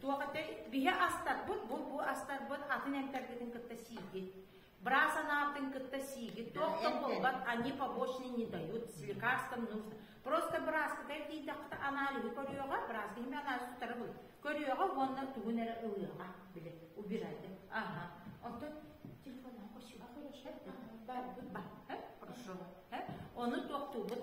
туох ate биһи астарбыт бу бу астарбыт атын эмтэрбитин кытта сииги. Быраас анаатын кытта сиигит туох да буолбат, они побочные не дают, с лекарством нужно. Просто бырааскытай диитэххэ анализы көрүөҕэ, бырааскы иһин анализы утары бу көрүөҕэ уонна тугун эрэ ылыаҕа, били, убирайте. Ага. Оттон телефоннан көрсүөҕэ хорошо. Бар, бар, хорошо. Оны тоқтуубут.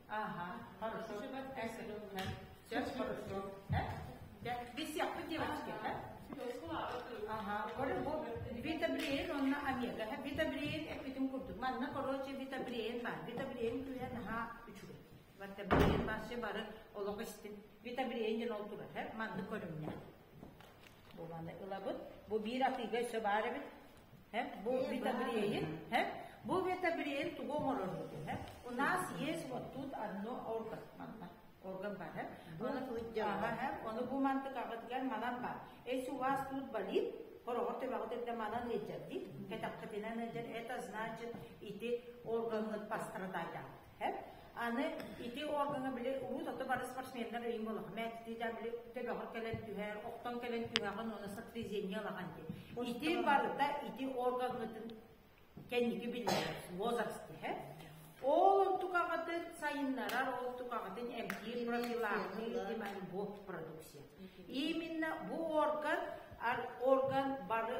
Ага, хорошо. Эс рыллар. Сейчас хорошо. Э? Да, без яхты девочки, а? Ага, коры бу бетабрейн онна омега, бетабрейн эпитим курдук. Манна короче бетабрейн бар. Бетабрейн күлен ага үчүрү. Бетабрейн басшы бары олох истин. Бетабрейнен ол турар, манны көрүннэ. Буланы ылабыт. Бу биир атыыга өссө баар эбит. Бу витамин, бу витамин тугу оҥорорбут һэ? У нас есть вот тут одно орган манна. Орган бар, һэ? Оны кылдьаҕа, оны бу мантыкаҕытыгар манан бар. Эс у вас тут болит? Хороҕор төбөҕүтэрдэ манан элдьэр дии. Кэтэххитинэн элдьэр. Это значит ити органҥыт пострадания. Аны ити органы били урут ото бары спортсмендар өйүн болоха мээттиидэ били төбөҕөр кэлэн түһэр, охтон кэлэн түһэҕин оны сопрезение ылаҕан дии. Ити барыта ити органытын кэнники биллэр возраст дэһэ. Ол онтукаҕытын сайыннарар, ол онтукаҕытын эмтиир профилактика альбо продукция. Именно бу орган орган бары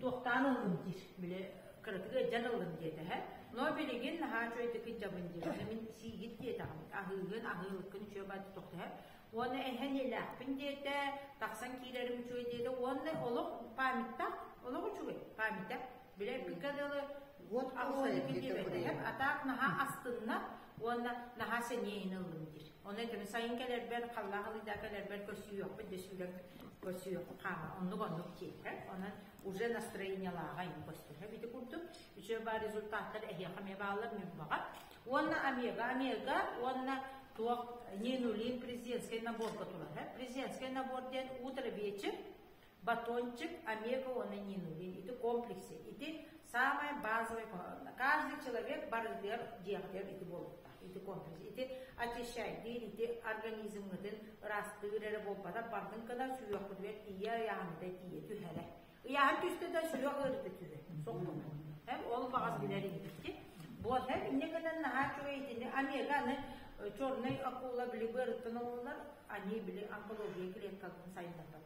туохтаан ыллын диир били кыратыгы дьан ыллын диэтэһэ но билигин наһаа үчүгэйдик дьабын диэбитэ мин сиигит диэтэҕим аһыыгын аһыылыккын үчүгэй баат тохтоһө уонна эһэн илээхпин диэтэ тахсан киирэрим үчүгэй диэтэ уонна олох памяттах олох үчүгэй памятах билэрбиккэ дылы вот аһыылыккын диэбэтэһэм атаак наһаа астынна уонна наһаа сэниэһин ыллын диир Ону этим сайын кэлэрбэр, халлаах ылыйда кэлэрбэр көрсүһүөхпүт дөсүлөк көрсүөх хаама оннук оннук тиэхэ. Онон уже настроениялааҕай көстөрө бити курдук. Үчүө баар результаттар эһиэхэ эмиэ бааллар ньурбаҕа. Уонна Омега, Омега уонна туох Нинулин президентский набор турар. Президентский набор диэн утро вечер батончик, омега-уоны ньыылы, ити комплексы, ити самое базовое куһаҕанна. Каждый человек барытыгар дьиэҕитигэр ити буолуохтаах, ити комплекс, ити очищайдыыр, ити организмҥытын ыраастыыр эрэ буолбатар, барытын кына сүһүөххүтүгэр тиийэ ыйааһыната тиийэ түһэрэ. Ыйааһын түстэ да сүһүөх ыарыыта түһэ, соққуна. Һэм ол баҕас билэр иһитти. Буот һэм инне гынан наһаа чугай итини омега-ны черный акула били быарыттан ололлар, они били онкология клеткаларын сайыннарбат.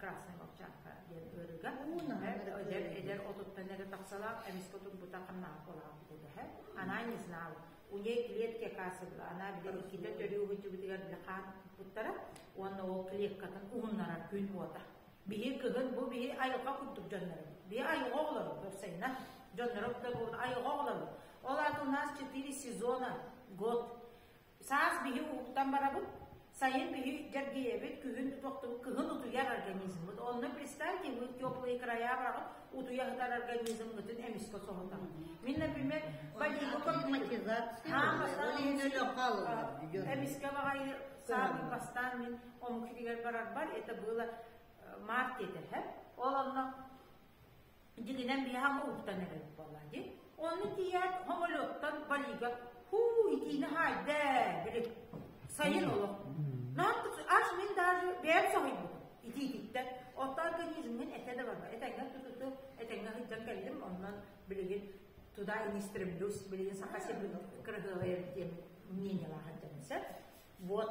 Красная Волчанка диэн ыарыга. Эдэр, эдэр отуттан эрэ тахсалаах, эмискэ турбута ханнаах болаах дэһэ. Она не знала. У ней клетки касыбла. Она билэр иккитэ төрүүһүтүбүтүгэр хаан путтара. Уонна ол клеткатын уһуннарар күн уота. Биһи кыгын бу биһи айылҕа курдук дьоннору. Биһи айылҕа олору көрсейна. Дьоннору да булун айылҕа олору. Ол ат у нас четыре сезона, год. Саас биһи ууттан барабыт, сайын биһи дьэргийэбит, күһүн тутуохтубут, кыһын утуйар организммыт. Онно представь, тиммыт теплые края барабыт, утуйа сытар организммытын эмискэ соһутар. Мин, например, болико Эмискэ бағайы саарын бастан мен омкитигер барарбар, это было март етер, ол онно Дитинэн биһаҕа уһуктан эрэр буолла дии. Онно тиийээт, хомолуоттан балига «Хуу, итиини хаайда!» дири сайын олох. Нааттык аш мин даже бэйэм соһуйбутум итиититтэн. Оттон организмҥын этэ да барба. Этэҥҥэ тутуту, этэҥҥэ сылдьан кэллим, онон билигин туда не стремлюсь, билигин саха сирин кырыһыалайар диэн мнениелаах сылдьан сөп. Вот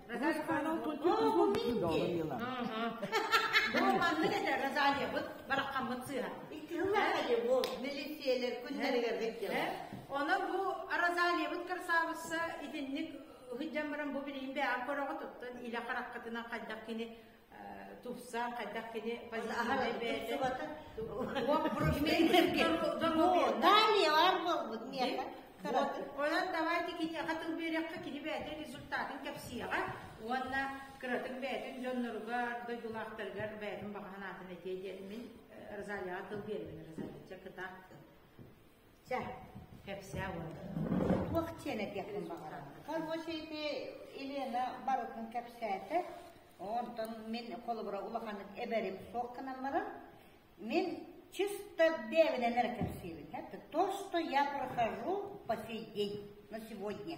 Ол маннык этэ розалиябыт бараххаммыт сыыһа. Икки сыллааҕа дии бу милициялар күннэригэр бүттэ. Онон бу розалиябыт красавысса итинник ыһыддьан баран бу билигин бэйэҕэ көрөҕө туттан илэ хараххытынан хайдах кини Тупса, хайдах кини Далее бар болбут миэхэ. Онон давайте кини хатыл берекке кини бээтин результатын кепсияға уонна кыратын бээтин дьонноругар дойдулаахтарыгар бээтин баҕаһанаатын этиэ диэн мин Розалияға тыл бермин Розалия кытаахтын. Чэ, кэпсээ уолу. Туох сиэн этиэхпин баҕарар. Хороший ити Елена барытын кэпсээтэ. Онтон мин холобура улаханнык эбэрим суох гынан баран, мин чисто бэбинэнэр кэпсиибит. Э, то, что я прохожу по сей день, на сегодня.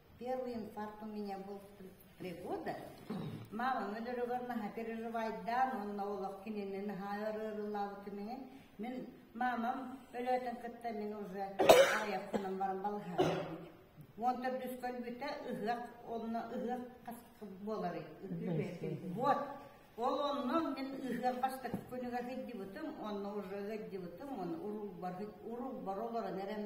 Первый инфаркт у меня был три года. Маҕан өлөрөгөр наһа переживайдаан уонна олох кинини наһаа арыырылаабытымиҥин мин маамам өлөөтөн кытта мин уже аайахпынан баран балаһаабытым. Уон төрдүс көлбүтэ ыһыах онно ыһыах буолары вот ол оннон мин ыһыах бастакы күнүгэр ыддыбытым онно уже ыддыбытым он уруубар уруубар олорон эрэн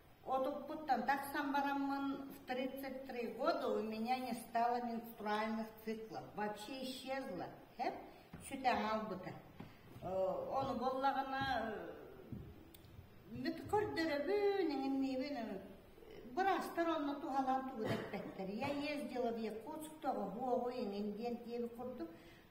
Отуппуттан тахсан бараммын, в тридцать три года у меня не стало менструальных циклов, вообще исчезло, эп сүтэ хаалбыта. Ону боллаҕына мүт көрдөрөбүн, эҥинниибин быраастар онно туһалаан тугу да эппэттэр. Я ездила в Якутск, тоҕо буоҕу, эҥин диэн диэби курдук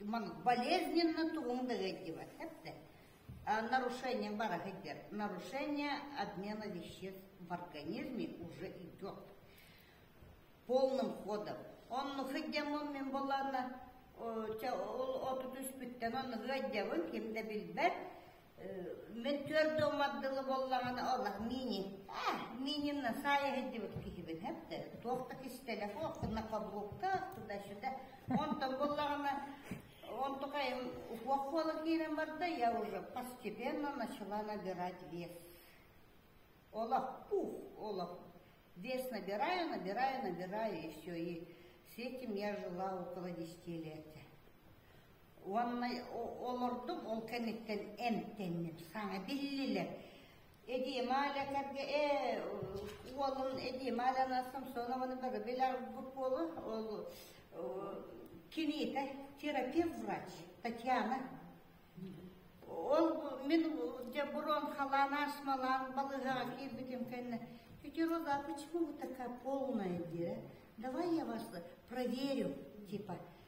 болезненно тугун да ыайдыбатта нарушение бара сылдьар нарушение обмена веществ в организме уже идет полным ходом онну сылдьаммын мин буоллаана чэ ол отут үспүттэн онну сылдьабын ким да билбэт Мин түөрт дыл мардылы буоллаҕына, олох мини. Э, минимна сая дебут киһибин хәптер. Туохта кис телефон, на подгубка, туда-сюда. Он там буоллаҕына, он только им укуах буола киирэн барда, я уже постепенно начала набирать вес. Олох, пух, олох. Вес набираю, набираю, набираю, и все. И с этим я жила около десяти лет. Уонна олордум, ол кэнниттэн эмтэнним. Саҥа биллилэр. Эдием Аля кэргэ э уолун эдием Аляна Самсонованы бары билэр буолу ол кинита терапевт врач Татьяна ол мен где бурон халан асмалан балыга кирбитим кэнне Пятероза, а почему вы такая полная, Давай я вас проверю, типа,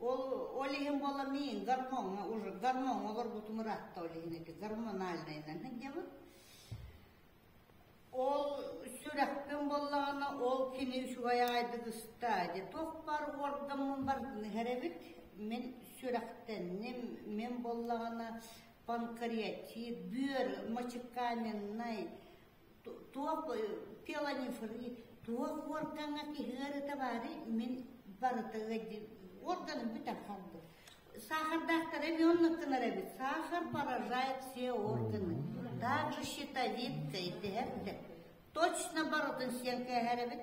Ол ол иһин буолла мин гормоҥҥа уже гормоҥҥа олорбутум ыраатта ол иһин ити гормональнайынан сылдьабын. Ол сүрэхпин буоллаҕына ол кини үчүгэй аайдык ыста дьэ туох баар уордаммын баргын иһэрэбит мин сүрэхтэнним мин буоллаҕына панкреатит, бүөр, мочекаменнай туох телонефрит туох органҥа киһи ыарыта баары мин барыта органым бүтэр халды сахардаахтара венныктынар эбит сахар поражает все органы даже щитовидкой диэбитэ точно барытын сиэн кээһэр эбит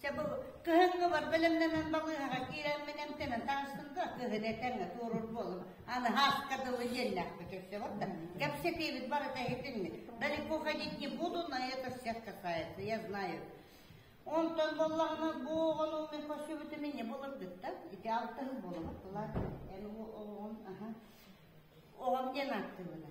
Чэ бу кыһыҥҥыбар бэлэмнэнэн балыыһаҕа киирэммин эмтэнэн таҕыстым да кыһын этэҥҥэ туоруур буоллум. Аны Һааска дылы иэннээхпэ көрсөбөр да кэпсэтиибит барыта иһитинни. Далеко ходить не буду, но это все касается, я знаю. Онтон боллаҕына бу оҕону мин көрсүбүтүм инньэ болырдыт да ити алтыһын болобут булар эн оҕон аха оҕом диэн ааттыыбына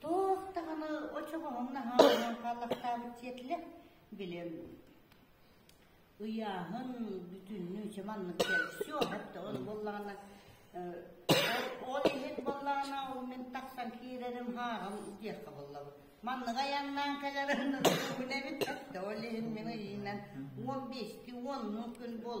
Туох даҕаны очоҕоһуҥ наһаа хааллахтаабыт сиэтилэ, билим ыйааһын, бүтүннүү чэ маннык кэл. Все, это он буоллаҕына ол иһит буоллаҕына ол мин тахсан киирэрим хааҕым диэххэ буоллабыт. Манныга яннаан кэлэрин эбит ол иһин мин ыйыынан он бести онну күн бол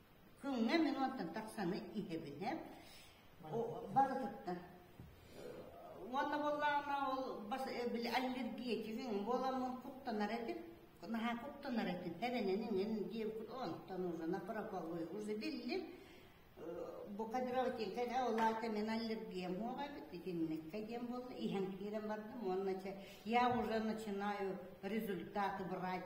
Күҥҥэ минуттан тахсаны итэбинэ барытыттан уонна буоллаҕына ол бас били аллергетигиҥ буоламмын куттанар этим наһаа куттанар этим эрэнэн иҥин диэбикут онтон уже напроповой уже билли бу кадровтинка олаата мен аллергиям буола эбит итинникке диэн буолла иһэн киирэн бардым уонна я уже начинаю результаты брать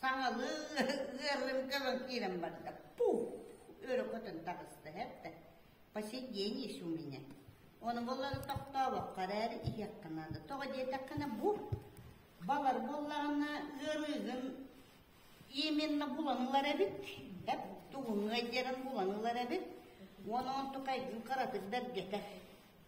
Саҥалыы ыарыым көрөн киирэн барда. Пух! Өрө көтөн таҕыста эрдэ. По сей день есть у меня. Оны боллары тохтообокко эрээри иһиэххэ наада. Тоҕо диэтэххинэ бу балар буоллаҕына ыарыыгын именно буланылар эбит. Бэп тугунугай диэрин буланылар эбит. Уон он тукайгын кыратык бэргэтэр.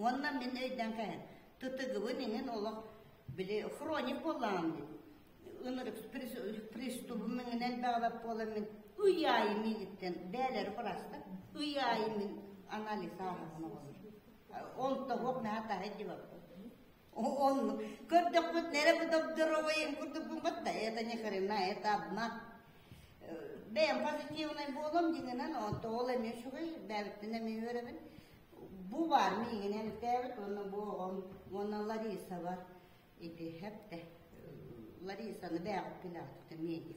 Уонна мин өйдөөн кэһэн, ТТГ-бын иһин олох били хроник буоллаҕым дии. Ынырык пристубум миҥинэн бэҕэбэп буолан мин ый аайы миигиттэн бээлэри бырастар, ый аайы мин анализ ааһабын оҕолор. Ол тоһук наһаа таһы диваппыт. Он, көрдөхпүт нэрэ будобдоровайым курдук бумбатта, это не хрена, это одна. Бэйэм позитивнай буолам дигинен онто ол эми үчүгэй бэбиттин эми өрөбүн бу бар миигинен тээбит онно бу онна Лариса бар иди хэпте Ларисаны бээх пилатта миигин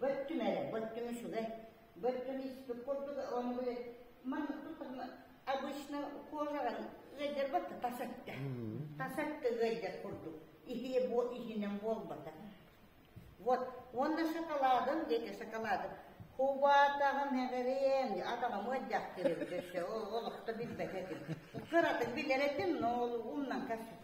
бөттүм эрэ бөттүм үчүгэй бөттүм испит курдук ылам билет маны обычно кожаҕын ыйдарбат да тас өттө тас өттө ыйдар курдук иһиэ буол иһинэн буолбата вот уонна шоколадын диэки шоколадын кубатаҕын эҕириэн атаҕым ыддьах кирит өссө олохто билбэт этим кыратык билэр этим но умнан кэс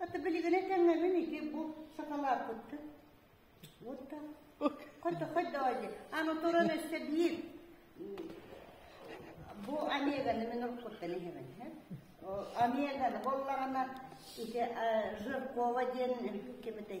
Ата билигине тэҥнэбин ити бу сакалааппыккын. Вот так. Хоть хоть давайте. Аны туран өссө биир бу Омеганы мен уруккуттан иһэбин. Омеганы болларына ити Жиркова диэн кебетей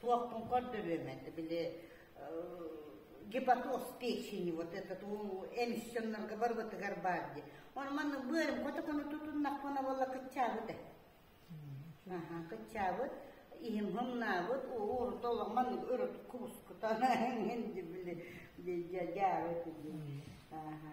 туохпун көрдөрүөм это били гепатоз печени вот этот у эмиссионнарга барбытыгар баар ди оны манна быарым котокону тутуннахпына болла кыччаабыт э аха кыччаабыт иһим хыҥнаабыт урут олох маннык өрүт кубускутан инди били дьаабыт ди аха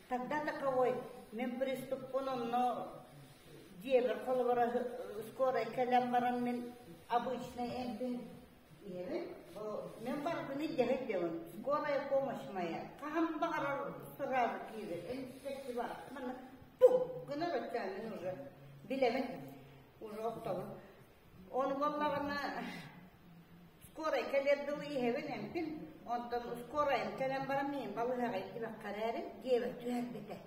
Тогда таковой, мен приступпун онно дьиэбэр холобура скорай кэлэн баран мен обычный эбин мен барбыны дьэһит дьылым скорая помощь моя хахам баҕарар сразу киирэ энтиссэти бар маны пук гынар өттөөнүн уже билэбин уже оттоҕун Ол буоллаҕына скорай кэлэр дылы иһэбин эмпин, онтон скорайын кэлэн баран мин балыһаҕай дибэххэ эрээри диэбэт түһэрбитэ.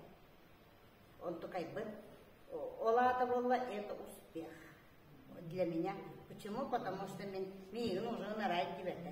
Онтукайбын. Ол аата буолла это успех. Для меня. Почему? Потому что мен, миигин уже нарайт дибэтэ.